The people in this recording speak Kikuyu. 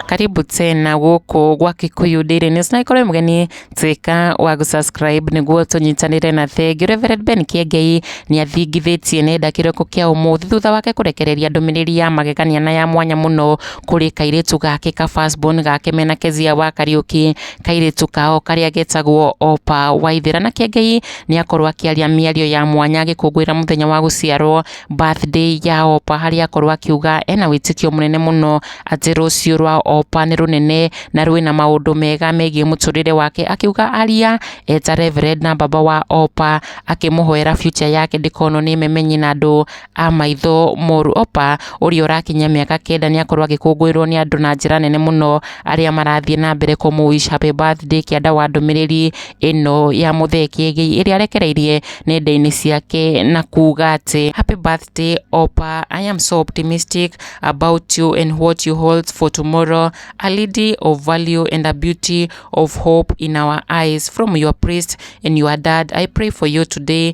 karibu tena gũkũ gwa Kikuyu Daily News na ikorwo mgeni tuika wa gũsubscribe nĩguo tũnyitanĩre na thengi Reverend Ben Kĩengei nĩ athingithĩtie nenda kĩroko kĩa ũmũthĩ thutha wake kũrekereria ndũmĩrĩri ya magegania na ya mwanya mũno kũrĩ kairĩtu gake ka firstborn gake mena Kezia wa Kariuki kairĩtu kao karĩa getagwo Opa Waithera na Kĩengei nĩ akorwo akĩaria mĩario ya mwanya agĩkũngũĩra mũthenya wa gũciarwo birthday ya Opa harĩa akorwo akiuga ena wĩtĩkio mũnene mũno atĩ rũciũ rwa Opa nĩ rũnene na rwĩna maũndũ mega megiĩ mũtũrĩre wake akiuga aria eta Reverend na baba wa Opa akĩmũhoera future yake ndĩkonwo nĩ memenyi na andũ a maitho moru. Opa ũrĩa ũrakinyia mĩaka kenda nĩ akorwo agĩkũngũĩrwo nĩ andũ na njĩra nene mũno arĩa marathiĩ na mbere kũmũ wish happy birthday kĩanda wa ndũmĩrĩri ĩno ya Muthee Kiengei ĩrĩa arekereirie nenda-inĩ ciake na kuga atĩ, Happy birthday Opa, I am so optimistic about you and what you hold for tomorrow, a lady of value and a beauty of hope in our eyes, from your priest and your dad, I pray for you today.